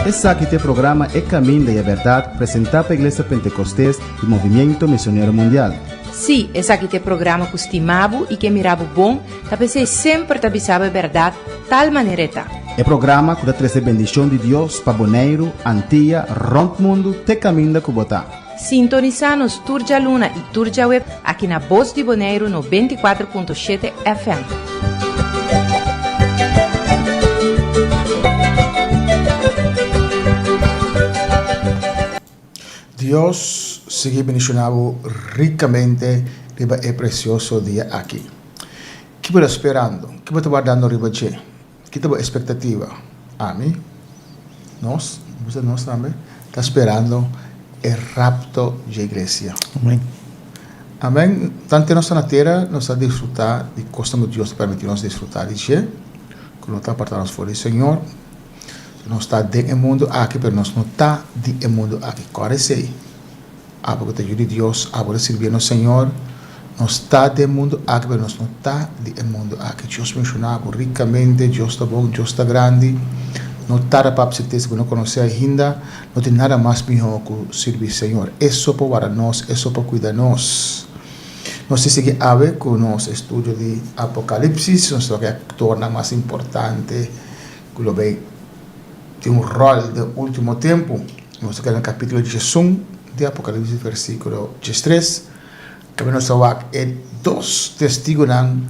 Esaki ta e programa E kaminda i e bèrdat, presentá pa Iglesia Pentekostés di Movimiento Misionero Mundial. Sí, esaki ta e programa ku stima bo i ke mira bo bon, ta p'esei e semper ta bisa bo e bèrdat, tal manera e ta. E programa ku ta trese bendishon di Dios pa Boneiru, Antia, rònt mundu, t'e kaminda ku bo ta. Sintonisá nos tur djaluna i tur djaweb aki na Bos di Boneiru nobenta i kuater punto shete FM. Dios sigui bendiciona bo ricamente riba e precioso dia aki. Ki bo ta sperando? Ki bo ta wardando riba dje? Ki ta bo espektativa? Ami, nos, bo bisa nos tambe, ta sperando e rapto dje iglesia. Amen. Amen. Tantu e nos ta na tera, nos ta disfruta di kosnan ku Dios ta permití nos disfruta di dje, ku no ta aparta nos for di Señor. Nos ta den e mundu aki, pero nos no ta di e mundu aki. Kòrde esei? Abo ku ta Yu di Dios, abo ku ta sirbié nos Señor, nos ta di e mundu aki, pero nos no ta di e mundu aki. Dios menshoná bo rikamente, Dios ta bon, Dios ta grandi. No tarda pa papia sertesa ku no konosé ainda. No tin nada mas mihó ku sirbi Señor. E so por warda nos, e so por kuida nos. Nos ta sigui awe ku nos estudio di Apocalipsis, nos ta bai torna mas importante. ku lo bay tin un ròl den e último tempu. Nos ta keda na kapítulo dishesun di Apocalipsis, versíkulo dishestres, kabia nos ta wak e dos Testigunan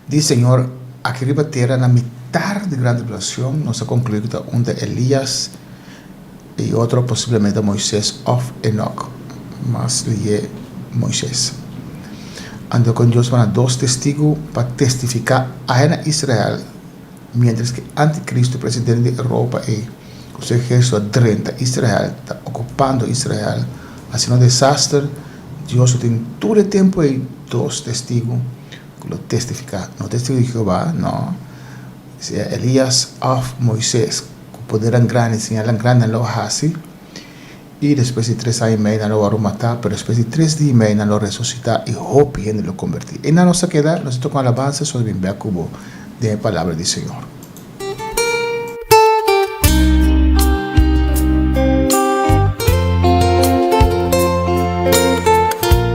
di Señor aki riba tera na mitar di gran tribulacion. Nos ta konkluí ku ta unda Elías. E otro posiblemente Moises òf Enòk, mas lié Moises. Anto kon Dios bana dos testigu pa testifiká ahe na Israel miéntras ki antikristu presidente di Europa ei ku su ehersito a drenta Israel ta okupando Israel haciendo un desaster? Dios lo tin tur e tempu ei dos testigu ku lo testifiká, no testigu di Jehová, no, sea Elias òf Moises. Ku podernan grandi, siñalnan grandi nan lo a hasi, i despues di tres aña i mei nan lo a wòrdu matá, pero despues di tres di i mei nan lo a resusitá, i hopi hende lo kombertí. Einan nos ta keda, nos ta toka un alabansa, so nos bin bèk ku bo den e palabra di Señor.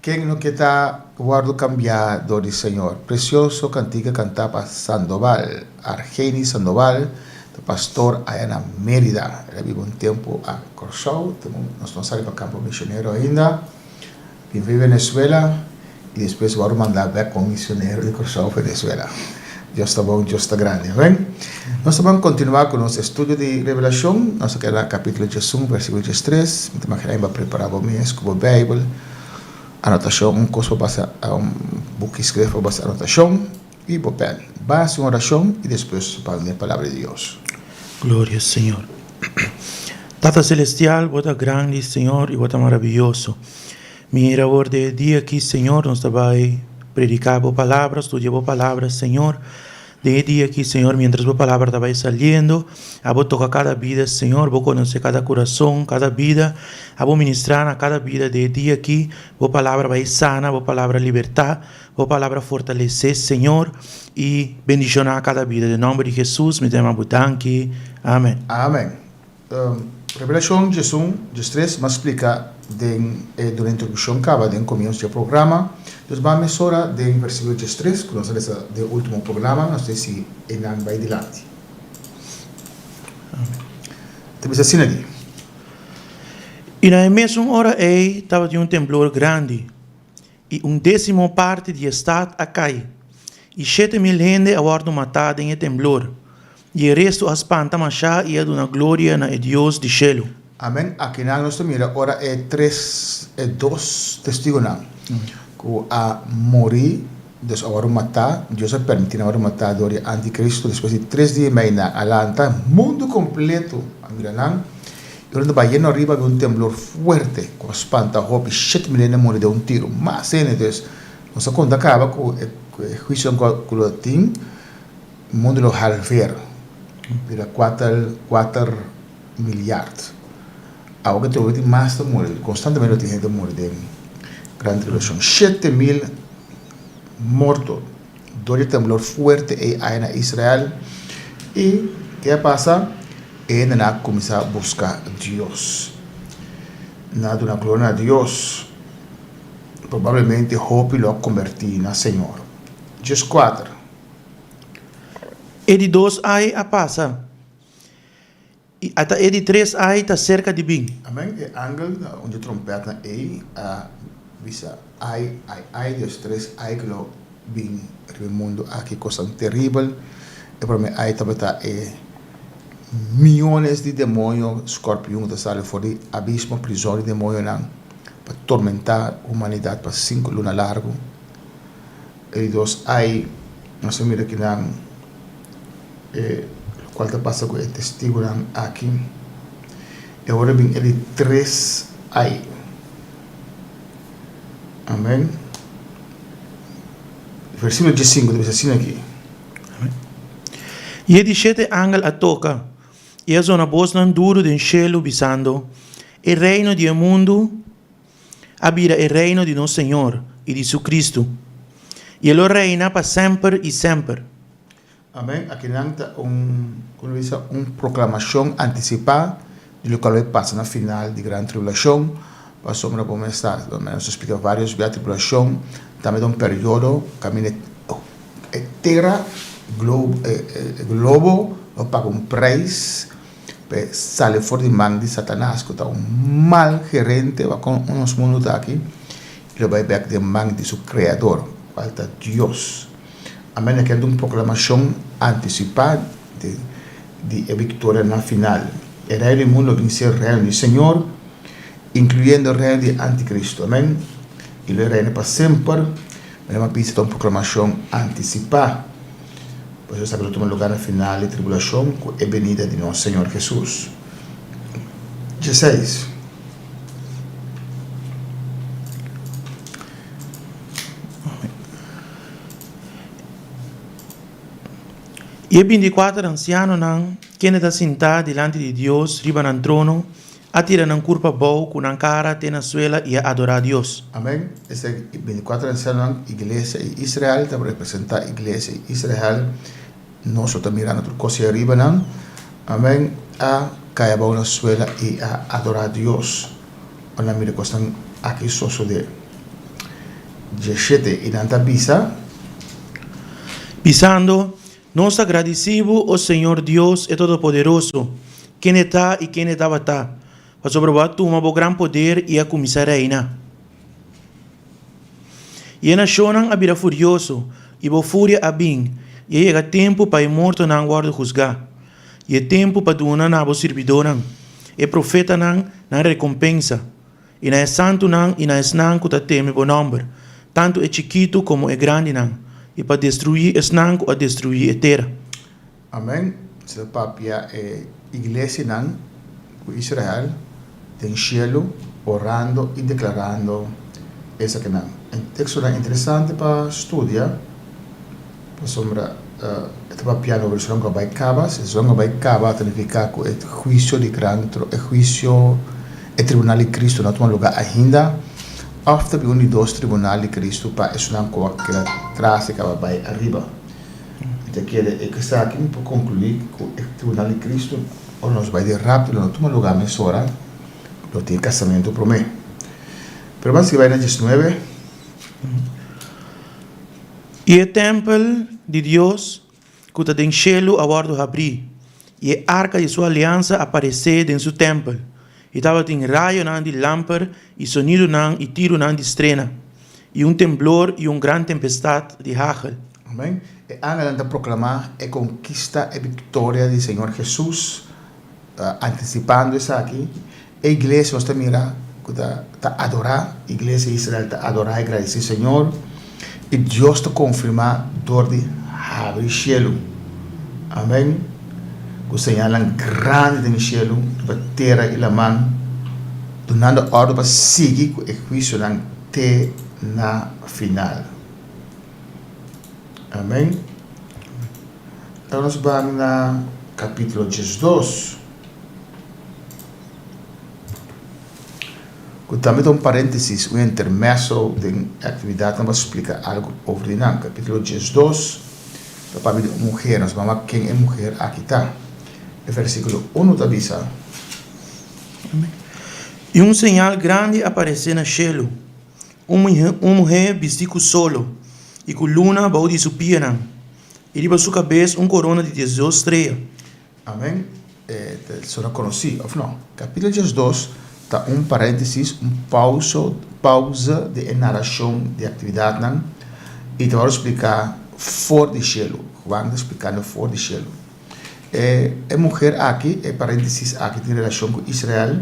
Ken no ke ta wòrdu kambiá dor di Señor? Presioso kantika kantá pa Sandoval. Argeni Sandoval ta pastor aya na Mérida. El a biba un tempu a Kòrsou, te nos no sali pa kampo misionero ainda. Bin bai Venezuela i despues wòrdu mandá bèk komo misionero di Kòrsou Venezuela. Dios ta bon, Dios ta grandi. Amen. Nos ta ban kontinuá ku nos estudio di Revelashon. Nos ta keda na kapítulo djes un, vèrsikulo djes tres. Mi ta manda ku e ba prepará bo mes ku bo Beibel, anotashon, un kos pa basa, un buki skref pa basa anotashon, i bo pèn. Ba hasi un orashon i despues ban lei Palabra di Dios. Gloria, Señor. Tata Celestial, bo ta grandi, Señor, i bo ta marabiyoso. Mira awor den e dia aki, Señor, nos ta bai prediká Bo Palabra, studia Bo Palabra, Señor. Den e dia aki, Señor, miéntras Bo Palabra ta bai saliendo, a Bo toka kada bida, Señor, Bo konosé kada kurason, kada bida, a Bo ministrá na kada bida den e dia aki, Bo Palabra bai sana, Bo Palabra libertá, Bo Palabra fortalesé, Señor, i bendishoná kada bida. Den nòmber di Hesus mi ta yama Bo danki. Amèn. Amèn. Revelashon djesun, djestres mas splika den e duna introdushon kaba den komiens dje programa. Nos ban mesora den versikulo djestres ku nos a lesa den ultimo programa, nos te sigui einan bai dilanti. Ta bisa asina di. I na e mesun ora ei tabatin un temblor grandi, i un désimo parti di e stat a kai, i shete mil hende a wòrdu matá den e temblor, i e restu a spanta mashá i a duna gloria na e Dios di shelu. Amén. Akinan nos ta mira ora e tres, e dos Testigunan ku a muri, dus a wòrdu matá, Dios a permití nan wòrdu matá dor di antikristu, despues di tres dia i mei nan a lanta, mundu kompletu a mira nan, Durante Bayerno riba habi un temblor fuerte cu a spanta hopi, shete mil hende a muri den un tiro, mas hende, entonces nos a conta caba cu e huicio den God cu lo tin, mundo lo halveer, bira cuater, cuater miljard, awe cu trobe tin mas ta muri, constantemente lo tin hende ta muri den gran tribulacion, shete mil morto. dor di temblor fuerte ei a na Israel i ke a pasa? E hende nan a kuminsá buska Dios. Nan a duna gloria na Dios. Probablemente hopi lo a kombertí na Señor. Djes kuater. E di dos ai a pasa. I ata e di tres ai ta serka di bin. Amen, e angel na un di trompètnan ei a bisa, Ai, ai, ai di e tres ai ku lo bin riba e mundu aki, kosnan teribel! E promé ai tabata e miónes di demonio skòrpiun ku ta sali for di abismo, prizòn di demonionan, pa tormentá humanidat pa sinku luna largu. E dos ai nos a mira kinan e lokual ta pasa ku e Testigunan aki. E ora bin e di tres ai. Amen. Versikulo diesinku ta bisa asin aki. I e di shete angel a toka, i a zona bosnan duru den shelu bisando, E reino di e mundu, a bira e Reino di nos Señor i di su Cristo, i e lo reina pa semper i semper. Amen. Akinan ta un, como lo bisa, un proclamacion anticipá di loke lo a pasa na final di gran tribulacion, pasobra bo mester sa, nos a splica varios bia, tribulacion ta mester un periodo kaminda e tera, globo, lo paga un prijs. P'e sali for di man di Satanas ku ta un mal gerente wa kon nos mundu ta aki i lo bai bèk den man di su Kreador, kual ta Dios. Amèn, e ker di un proklamashon antisipá di e viktorianan final. E reino di mundu a bin ser reino di Señor, inkluyendo e reino di e antikristu. Amèn, i lo e reina pa semper. Mesmu a bisa ta un proklamashon antisipá. Pues nos ta bira tuma lugar na final di tribulashon ku e benida di nos Señor Hesus. Djaseis, i e binti i kuater ansianonan kende ta sintá dilanti di Dios riba nan trono, A tira nan kurp abou ku nan kara te na suela i a adorá Dios. Amén. Esei i binticuatro ansiaonan, iglesia i Israel, ta por representá iglesia i Israel. Nos lo ta mirando tur kos ei ariba nan. Amén. A kai abou na suela i a adorá Dios ora nan mira kosnan aki sosodé. Dieshete i nan ta bisa. Pisando Nos ta gradisí bo, o Señor Dios, e Todopoderoso, kende ta i kende tabata, pasobra bo a tuma bo gran poder i a kuminsá reina. I e nashonnan a bira furioso, i bo furia a bin, i a yega tempu pa e mortonan wòrdu husgá, i e tempu pa duna na bo sirbidónan, e profetanan, nan rekompensa. I na e santunan i na esnan ku ta teme bo nòmber, tantu e chikitu komo e grandinan, i pa destruí esnan ku a destruí e tera. Amèn. Se ta papia e iglesianan ku Israel den shelu orando i deklarando esakinan. Tekstonan interesante pa studia. Pasobra e ta papia no Babilonia ku a bai kaba, si e ciudat ku a bai kaba ta nifiká ku e huisio di gran tro, e huisio, e tribunal di Kristu no a tuma lugá ainda, òf ta bin un di dos tribunal di Kristu pa e ciudat ku a keda tras di kaba bai ariba. I ta keda e kustá aki mi por konkluí ku e tribunal di Kristu, ora nos bai di rapto, lo no tuma lugá mesora lo tin e kasamentu promé. Pero m'a sigui bai na diesnuebe. I e tèmpel di Dios ku ta den shelu a wòrdu habrí, i e arka di su aliansa a paresé den su tèmpel, i tabatin rayonan di lamper i sonidunan i tirunan di strena, i un temblor i un gran tempestat di hagel. Amèn. E angelnan ta proklamá e konkista, e biktoria di Señor Hesus, antisipando esaki, E iglesia nos ta mira ku ta adorá, iglesia di Israel ta adorá i gradisí Señor, i Dios ta konfirmá dor di habri shelu. Amen. Ku señalnan grandi den e shelu, riba tera i laman, dunando órden pa sigui ku e huisionan te na final. Amen. Awe nos bai na kapítulo diesdos. Cu tambe ta un parentesis, un intermezzo den e actividadnan pa splica algo over di nan. Capitulo diesdos ta papia di un muher, nos mama ken e muher aki ta. E versiculo uno ta bisa, I un señal grandi a parece na cielo, un muher bisti cu solo y cu luna bao di su pianan, y riba su cabes un corona di diesdos strea. Amen. E ta sona konosí, òf nò? Kapítulo diezdos ta un paréntesis, un pausa, pausa den e narashon di e aktividatnan, i ta wòrdu spliká for di shelu. Juan ta splikando for di shelu. E e muher akí, e paréntesis akí tin relashon ku Israel,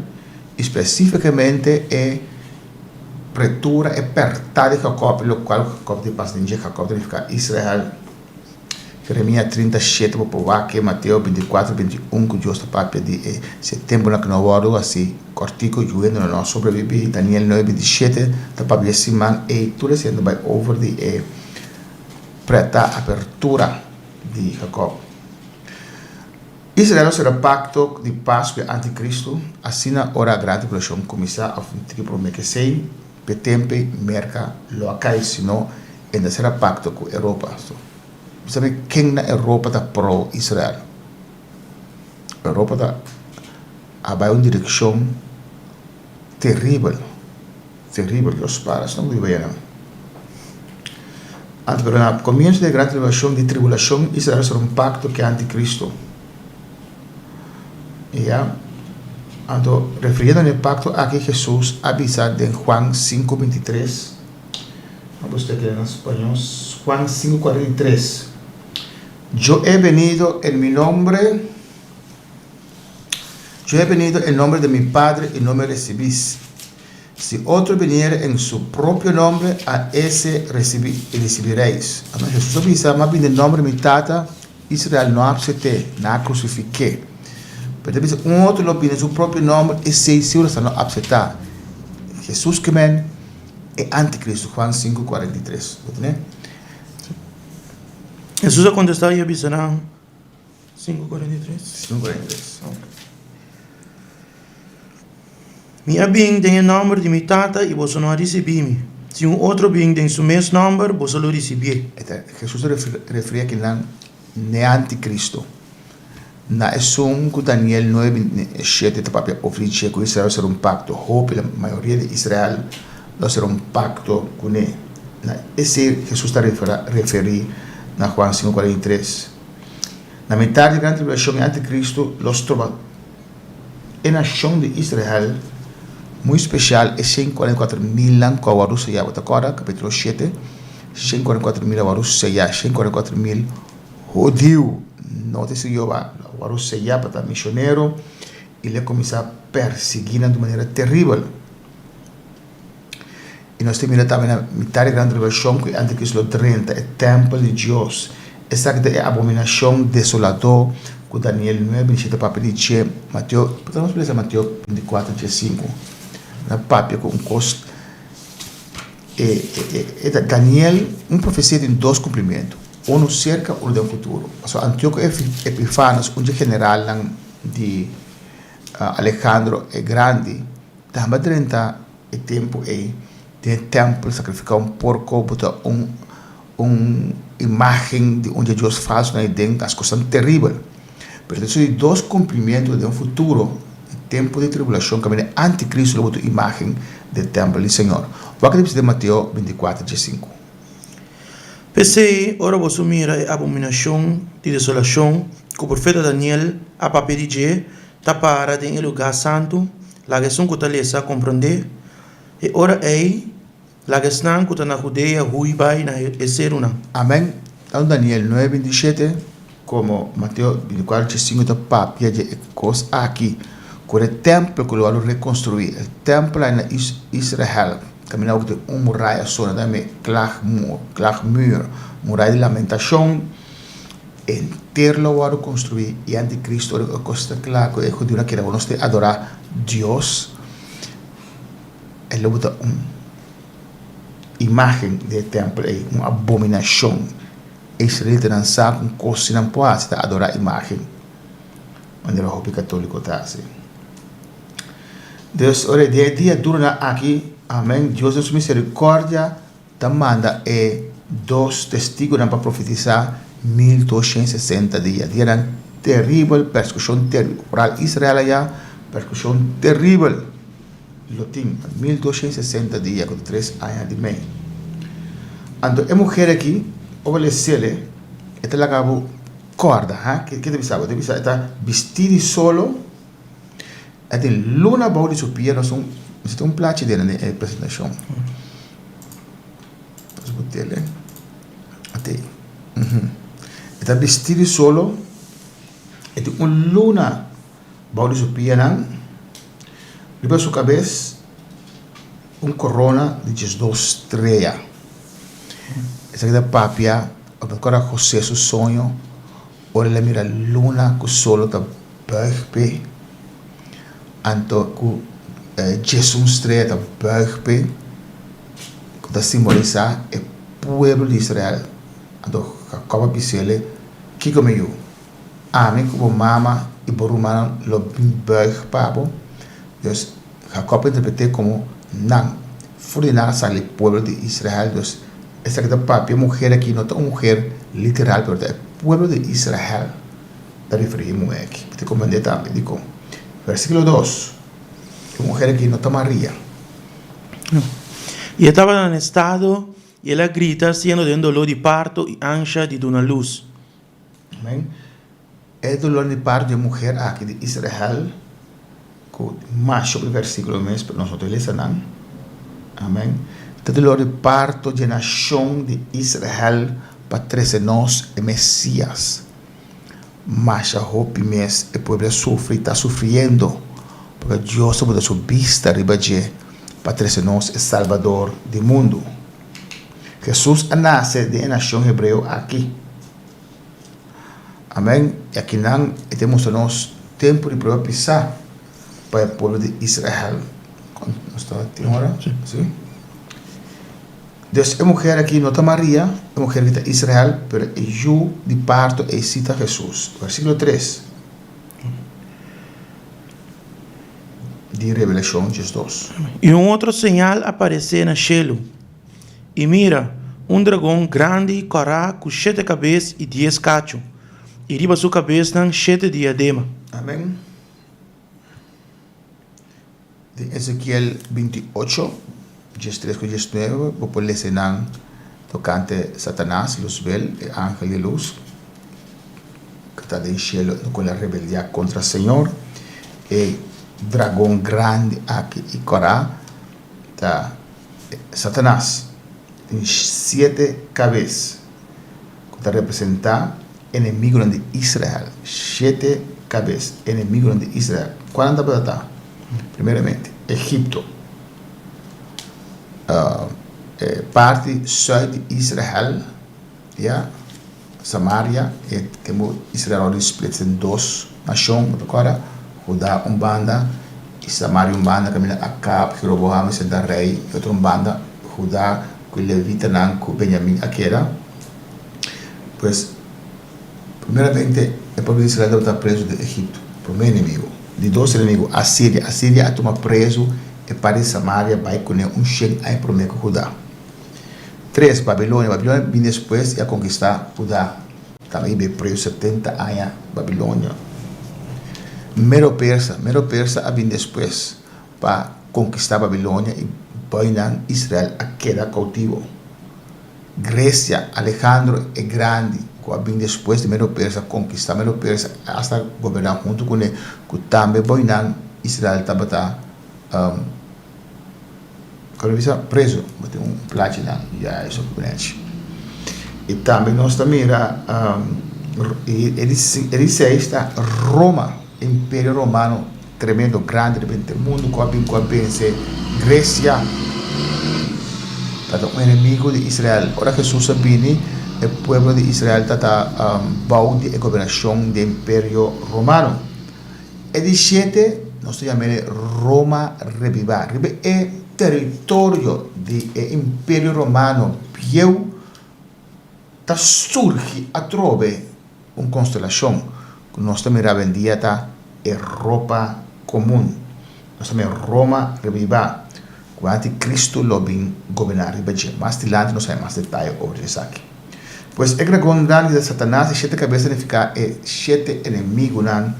i spesífikamente e pretura, e pèrtá di Jakòb, lokual Jakòb tin pas den dje. Jakòb ta nifiká Israel. Jeremia trinta i shete Bo por wak e Mateo binti i kuater binti i un ku Dios ta papia di e se tempunan ku no wòrdu hasi kòrtiku yuendonan no a sobreviví Daniel nuebe binti i shete ta papia di e siman ei tur esei ta bai over di e prèta apertura di Jakòb Israel lo sera pakto di pas ku e anti Kristu asina ora e gran tribulashon kuminsá òf un tiki promé kesei. Pe tempe Merka lo a kai sino e na sera pakto ku Europa. Bo sabe ken na Europa ta pro Israel? Europa ta a bai un direkshon teribel, teribel. Dios para sino ku di baia nan. Anto pero na komienso di e gran tribulashon, di tribulashon Israel a ser un pakto ku e antikristo. Ya. Anto, refiriendo na e pacto aki Jesus a bisa den Juan sinku binti tres, a busca aki na spañol, Juan sinku kuarenta i tres, Yo he venido en mi nombre, Yo he venido en nombre de mi Padre y no me recibis. Si otro biniere en su propio nombre, a ese recibi, e ricibireis. Amen. Jesús a bisa, M'a bin den nombre mi Tata, Israel no a apset'é, n'a crucific'é. Pero e ta bisa, Un otro lo bin den su propio nombre, esei si wrasta lo apsetá. Jesús kimen e anticristo. Juan sinku kuarenta i tres. Jesús a contestá i a bisa nan. Sinku kuarenta i tres. Sinku kuarenta i tres, ok. Mi a bin den e nòmber di mi Tata i boso no a risibí mi. Si un otro bin den su mes nòmber, boso lo risibié. E ta Hesus ta referí a kinan n'e antikristu. Na esun ku Daniel nuebe binti e shete ta papia ofri dje ku Israel lo ser un pakto, hopi la mayoria di Israel lo ser un pakto kuné. Na esei Hesus ta referí na Juan sinku kuarenta i tres. Na mitar di Gran Tribulacion i anti Cristo lo stroba e nacion di Israel muy special e cien cuarenta y cuatro milnan cu a wordo sella. Bo ta corda capitulo siete cien cuarenta y cuatro mil a wordo sella cien cuarenta y cuatro mil hudiu no ta sirbi Jehová a wordo sella pa ta misionero i el a cuminsa persiguinan di manera terribel. i nos ta mira tambe na mitar di gran tribulacion cu e anticristo lo drenta e tempel di dios esaki ta e abominacion desolador cu Daniel 9 di siete papia di dje Mateo pasa nos lesa Mateo 24 dje 5 na papia cu un cos e ta Daniel un profecia tin dos cumplimentu unu cerca otro den futuro pasobra Antioco Epifanes un dje generalnan di Alejandro e grandi Tambe drenta e tempu ei, den e tèmpel sakrifiká un porko bo ta un un imágen di un djadjos falsu na Eden, ta skosan teribel. Pero ta suru di dos kumplimentu den futuro, na e tempu di tribulashon kaminda e antikristu lo bo ta un imágen di e tèmpel di Señor. Wak di bisa den Mateo bintikwatro dje sinku. P'esei, ora boso mira e abominashon di desolashon ku e profeta Daniel a papia di dje, ta para den e lugá santu, laga esun ku ta lesa komprondé. E ora ei, laga esnan ku ta na Hudea hui bai na e serunan. Amén. Tando Daniel nueve bini di shete komo Mateo bini di kuater di sinku ta papia dje e kos aki ku e tèmpel ku lo a lo rekonstruí. E tèmpel aki na Israel kaminda ku tin un muraya asona tambe, Klaagmuur, Klaagmuur, Muraya di Lamentashon. Enter lo a wòrdu konstruí i antikristu a duna kos ta kla ku e hudiunan kere bo nos tin adorá dios. E lobo ta un imágen di e tèmpel ei, un abominashon. E israelitanan sa kon kos si nan por hasi ta adorá imágen manera hopi katóliko ta hasi. Entonces, ora e dia di e diaduronan aki, amén, Dios den su miserikòrdia ta manda e dos Testigunan pa profetisá mil doshiènt sesenta dia, dia nan teribel, persekushon teribel. Paral Israel a ya persekushon teribel lo tin, mil doshiènt sesenta dia ku ta tres aña di mei. Anto e muher aki, ora bo lesele, e ta laga bo kòrda, ha? Ke ta bisa bo? E ta bisa bo e ta bistí di solo, E tin luna bou di su pia nos un bisita un plachi di nan e presentacion nos cu tele ate e ta bisti di solo e tin un luna bou di su pia nan riba su cabes un corona di diesdos streya esaki ta papia ora Jose su soño Ora el a mira luna ku sol ta bùig p'e, anto ku Djesun strea ta bùig p'e, ku ta simbolisá e pueblo di Israel, anto Jakòb a bis'ele, Kiko mi yu? Ami ku bo mama i bo rumannan lo bin bùig pa bo? Jakòb a interpret'é komo, Nan. Fu di nan a sali pueblo di Israel, dus esaki ta papia muher aki no ta un muher literal pero ta e pueblo di Israel ta referia e muher aki. Mester comprende tambe dikon. Versiculo dos, e muher aki no ta Maria. I e tabata na un estado i el a grita siendo den doló di parto i ansha di duna lus. Amen. E dolor di parto di e muher aki di Israel cu masho di versiculo mes por nosotros lesa nan. Amen. E dolor di parto di e nacion di Israel pa trece nos e Mesias. Masha hopi mes e pueblo a sufri y ta sufriendo porque Dios a bota su bista riba dje pa trece nos e Salbador di mundo. Hesus a nase den e nashon hebreo aki. Amen, i akinan e ta mustra nos tempu di prueba pisá pa e pueblo di Israel. Nos ta tin ora? Si. Des e muher aki no ta Maria, e muher aki ta Israel, pero e yu di parto ei si ta Hesus. Versíkulo tres. di Rebelashon djes dos. I un otro señal aparesé na shelu, i mira, un dragon grandi i kòrá ku shete kabes i dies kachu, i riba su kabesnan shete diadema. Amen. Den Ezekiel binti ocho. Djes tres ku djes nuebe, Bo por lese nan tokante Satanas, Luzbel, e angel di lus ku ta den shelu ku lo a rebeldiá kontra Señor. E dragon grandi aki i kora ta Satanas. Tin siete kabes ku ta representá enemigunan di Israel. Siete kabes enemigunan di Israel. Kualnan tabata ta? Primeramente, Egipto. e parti sùit di Israel ya Samaria e tempu Israel lo di splitse den dos nashon bo ta kòrda Hudá un banda y Samaria un banda kaminda Akab y Roboham a senta rei y otro un banda Hudá ku levitanan ku Benjamin a keda pues primeramente e pueblo di Israel tabata prezu den Egipto prome enemigo di dos enemigu Asiria. Asiria a tuma prezu e parti di Samaria bai kuné un shen aña promé ku Hudá. Tres, Babilonia. Babilonia bini despues i a konkistá Hudá. Tambe i bai prezu setenta aña Babilonia. Medo-Persa. Medo-Persa a bini despues pa konkistá Babilonia i bainan Israel a keda koutibo. Grecia, Alejandro e Grandi, cu a bin despues di Medo Persa conquista Medo Persa, e hasta goberna hunto cu ne, cu tambe boinan Israel tabata preso. Bo tin un plachi la, ya eso cu neci. Y tambe nos ta mira e di seis ta Roma. E imperio romano tremendo grandi riba henter mundu ku a bin ku a bense Gresia tabata un enemigu di Israel. Ora Hesus a bini, e pueblo di Israel tabata bou di e gobernashon di e imperio romano. E di shete nos ta yama el Roma rebiba. Riba e teritorio di e imperio romano bieu. ta surgi atrobe un konstelashon ku nos ta mira awendia ta Europa Komun, nos ta mira Roma Ribibá, ku anti Kristu lo bin goberná riba dje. Mas dilanti nos ta haña mas detaye over esaki. Pues, e dragon grandi ta Satanas, e shete kabes ta nifiká e shete enemigunan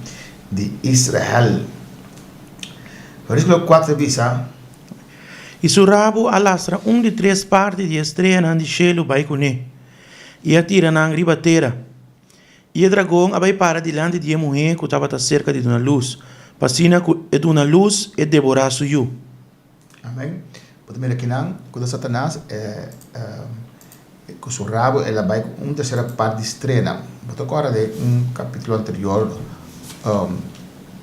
di Israel. Vèrsíkulo kuater ta bisa. I su rabu a lastra un di tres parti di e streanan di shelu bai kuné, i a tira nan riba tera. I e dragon a bai para dilanti di e muhé ku tabata serka di duna lus, pa asina ku e duna lus e deborá su yu. Amén. Bo ta mira kinan ku ta Satanas, e. Ku su rabu el a bai ku un tèrsera part di strena. Bo ta kòrda den un kapítulo anterior,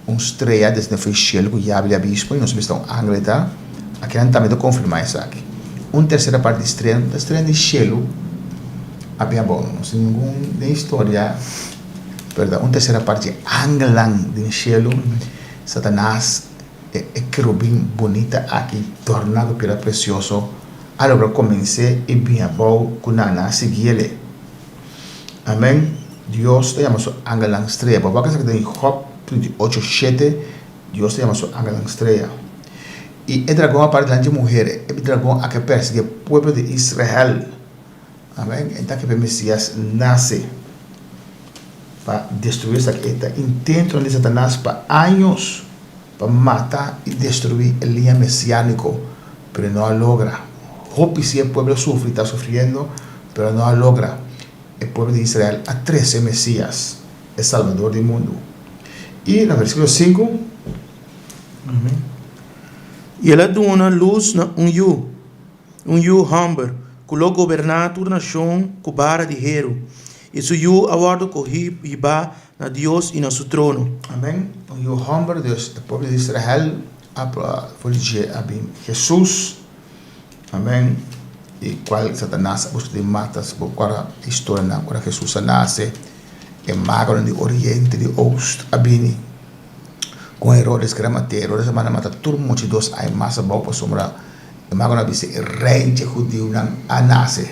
un strea desnde fo e shelu ku yabi di abismo i nos a bista un angel e ta. Akinan tambe ta konfirmá esaki. Un tèrsera part di strena no ta strena di shelu apia abon. No sin ningun den historia, perdon, un tèrsera part di angelnan den shelu, Satanas, e kerubin bunita aki torná ku piedra presioso. Alabra comens'e i bin abao cu nan a sigui el'e. Amen, Dios ta yama su angelnan strea. Bo a wak esaki den Job trinta i ocho shete, Dios ta yama su angelnan strea. I e dragon a para dilanti di e muher, e bin dragon aki a persigi e pueblo di Israel. Amen, e taki p'e Mesias nace, pa destrui esaki. E ta intentonan di Satanas pa años. pa mata i destruí e liña mesiánico, pero no a logra. Hopi si e pueblo sufri, ta sufriendo, pero no a logra. E pueblo di Israel a trece e Mesías, e Salvador di mundu. I na versículo sinku. I el a duna lus na un yu, un yu homber cu lo goberná tur nacion cu bara di heru, i su yu a wòrdu cohí hibá Na Dios i na su trono. Amen. Un yu homber di e pueblo di Israel a proba for di dje a bin Jesus, amen, di cual Satanas a buska di mata. Si bo ora e historianan, ora Jesus a nace, e magonan di oriente, di oost, a bini con Herodes, ki era mate. Herodes a manda mata tur mucha i dos ai mas abao pasobra. E mago a bisa, E reinan hudiunan a nase.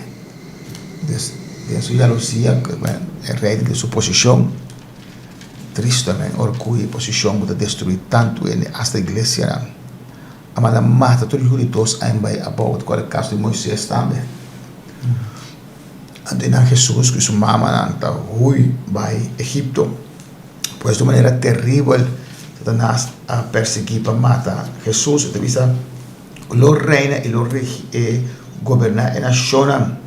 Pues, den su yalusia, e rei tin su posishon. Tristamen, orguyo i posishon bo ta destruí tantu hende, asta iglesianan. A manda mata tur yuda di dos aña bai abou, ta kore kas di Moises tambe. Anto e nan Hesus ku su mamanan ta hui bai Egipto. Pues di un manera teribel Satanas a persiguí pa mata Hesus. E ta bisa, Lo reina i lo goberná e nashonnan.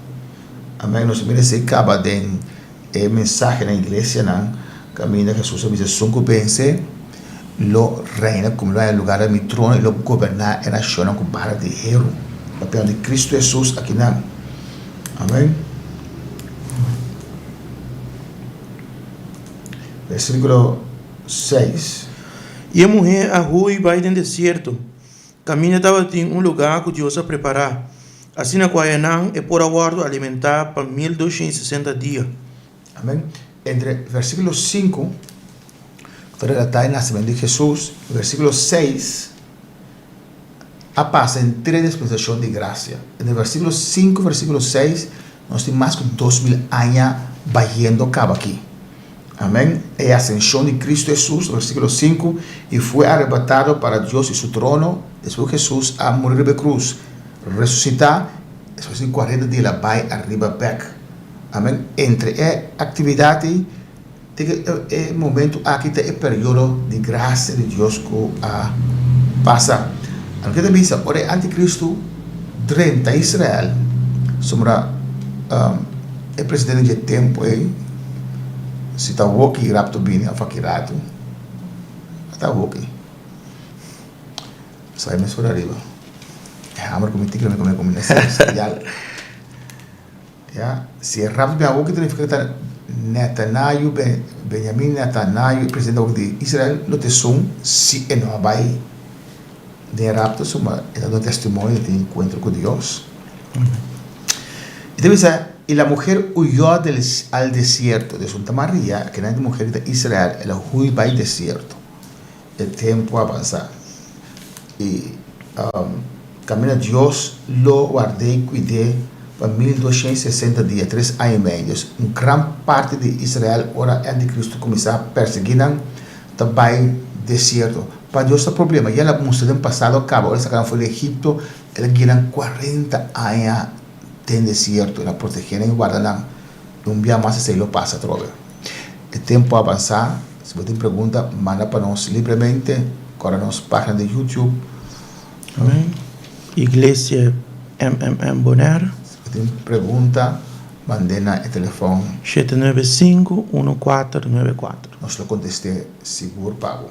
Amén. Nos ta mira esei kaba den e mensahe na iglesianan kaminda Hesus a bisa, Esun ku bensé lo reina ku mi, lo a haya lugá den mi trono i lo goberná e nashonnan ku bara di heru. Papia di Kristu Hesus a kinan. Amén. Versículo 6. I e muhé a hui bai den desierto, kaminda tabatin un lugá ku Dios a prepará, asina ku hañanan e por a wòrdu alimentá pa mil doshen i sesenta dia. Amén. Entre versículo 5, ku ta relatá e nasimentu di Hesus, i versículo 6, a pasa en tres dispensashon di grasia. Dende versikulo sinku, versikulo seis, nos tin mas ku dos mil aña bayendo kaba aki. Amèn. E asenshon di Kristu Hesus, versikulo sinku, i fue arebatado para Dios i su trono, despues ku Hesus a muri riba e krus, resusitá, despues di kuarenta dia el a bai ariba bèk. Amèn. Entre e aktividat ei Tin e momento aki ta e periodo di gracia di Dios cu a pasa. Algin ta bisa, ora e anticristo drenta Israel, sombra e presidente dje tempo ey, si ta hoki rapto bini of aki ratu, a ta hoki. Sa e mes ora riba. E hamer cu mi tin cu mi comienza a ser serial. Ya, si e rap di Beaú ki ta nifiká ku ta Netanayu ben Benyamin, Netanayu e presidente awor di Israel, lo ta esun si e no a bai den e rapto, suma e ta duna testimonio di e tin enkuentro ku Dios. I ta bisa, Y la mujer huyó del al desierto. Di esun ta Maria, kende muher ku ta Israel, el a hui bai desierto. E tempu a bansá i kaminda Dios lo ward'é i kuid'é pa mil duashiènt sesenta dia, tres aña i medio. Un gran parti di Israel, ora e antikristu kuminsá pèrsiguí nan, ta bai desierto. Pa Dios ta problema, ya el a mustra den pasado a kaba ora el a saka nan for di Egipto, el a guia nan kuarenta aña den desierto, el a protegé nan i warda nan. Un bia mas esei lo pasa atrobe. E tempu a abansa, si bo tin pregunta manda pa nos libremente ora nos pagina di YouTube. Iglesia MMM Bonaire. Si bo tin pregunta mand'e na e telefon. Shete nuebe sinku unu kuater nuebe kuater. Nos lo kontest'e sigur pa bo.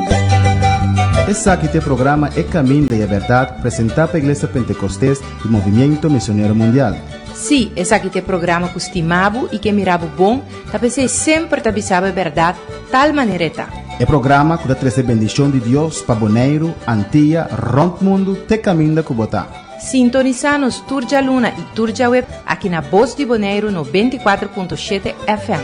Esaki ta e programa E kaminda i e bèrdat presentá pa Iglesia Pentekostés di Movimiento Misionero Mundial. Sí, esaki ta e programa ku stimá bo i ke mirá bo bon, ta p'esei e semper ta bisa bo e bèrdat tal manera e ta. E programa ku ta trese bendishon di Dios pa Boneiru, Antia, rònt mundu te kaminda ku bo ta. Sintonisá nos tur djaluna i tur djaweb aki na Bos di Boneiru nobenta i kuater punto shete FM.